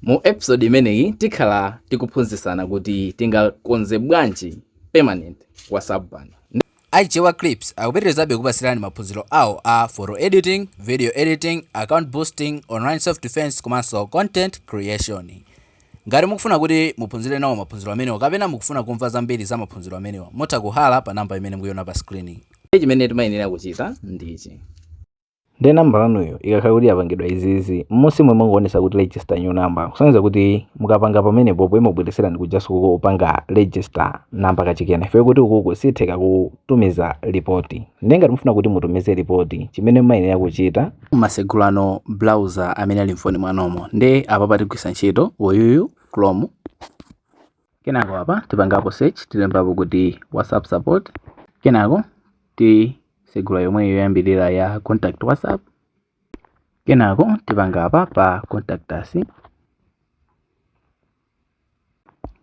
Mu episode imeneyi tikhala tikuphunzisana kuti tingakonze bwanji permanent WhatsApp ban. A Chichewa Clips akupitirizabe kukupatsirani maphunziro awa a Photo Editing, Video Editing, Account Boosting, Online Self Defense komanso Content Creation. Ngati mukufuna kuti muphunzire nawo maphunziro amenewa kapena mukufuna kumva zambiri za maphunziro amenewa, mutha kuhalla pa number imene mukuiona pa screen. Ndiye chimene timayenera kuchita ndi ichi. Ndiye nambala yanuyo ikakhala kuti yapangidwa izizi, m'munsimu imangoonetsa kuti register new number, kusonyeza kuti mukapanga pamenepo imakubweretserani kujanso ko kopanga register namba kachikena, chifukwa kuti ukuku sitheka kutumiza lipoti. Ndiye ngati mufuna kuti mutumize lipoti, chimene mumayenera kuchita. mumatsegula no browser amene ali m'foni mwanumo. Ndiye apapa tigwiritsa ntchito uyuyu Chrome. kenako apa tipangapo search tilembapo kuti whatsapp support kenako tisegula yomweyo yoyambirira ya contact whatsapp kenako tipanga apa pa contact us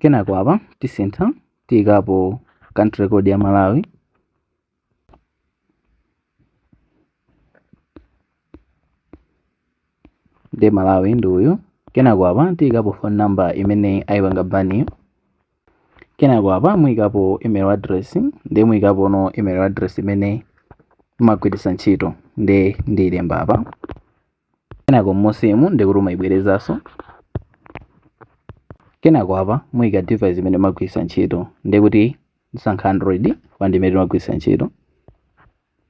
kenako apa tisintha tiyikapo country code ya malawi nde malawi ndi uyu kenako apa tiyikapo phone number imene ayipanga baniyo kenako apa muyikapo email address nde muyikapono email address imene mumagwiritsa ntchito nde ndiyilemba apa kenako m'munsimu ndikuti umaibwerezanso kenako apa muyika device imene mumagwiritsa ntchito ndikuti ndisankha android cause ndi imene ndimagwiritsa ntchito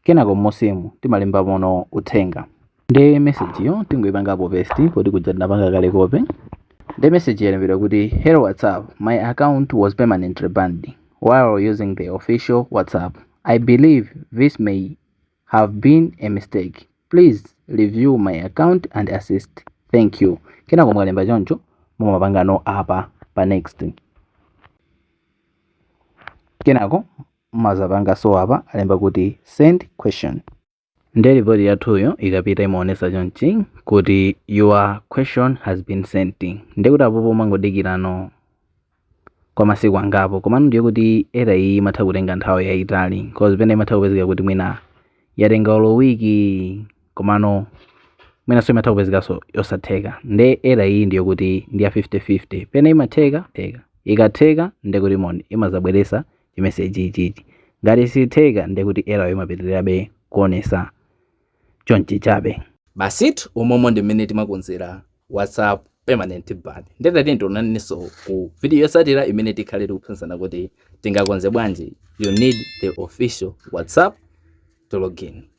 kenako m'munsimu timalembamono uthenga ndi message-yo tingoipangapo paste poti kuja tinapanga kale copy ndi message yalembedwa kuti hello whatsapp my account was permanently banned while using the official whatsapp i believe this may have been a mistake please review my account and assist thank you kenako mukalemba choncho mumapangano apa pa next kenako mumazapangaso apa alemba kuti send question nde ripoti yathuyo ikapita imaonesa chonchi kuti your question has been sent ndekuti apopo mumangodikirano kwa masiku angapo komano ndiye kuti error iyi imatha kutenga nthawi yayitali cause pena imatha kupezeka kuti mwina yatenga olo wiki komano mwinanso imatha kupezekanso yosatheka nde error iyi ndiyo kuti ndi ya 50-50 pena imatheka sitheka ikatheka nde kuti m'foni imazabweresa chimeseji ichichi ngati sitheka nde kuti error-yo imapitirirabe kuonesa chonchi chabe. Basitu umomo ndi mmene timakonzera whatsapp permanent ban nde tatiyeni tionanenso ku video yotsatira imene tikhale tikuphunzisana kuti tingakonze bwanji you need the official whatsapp to login.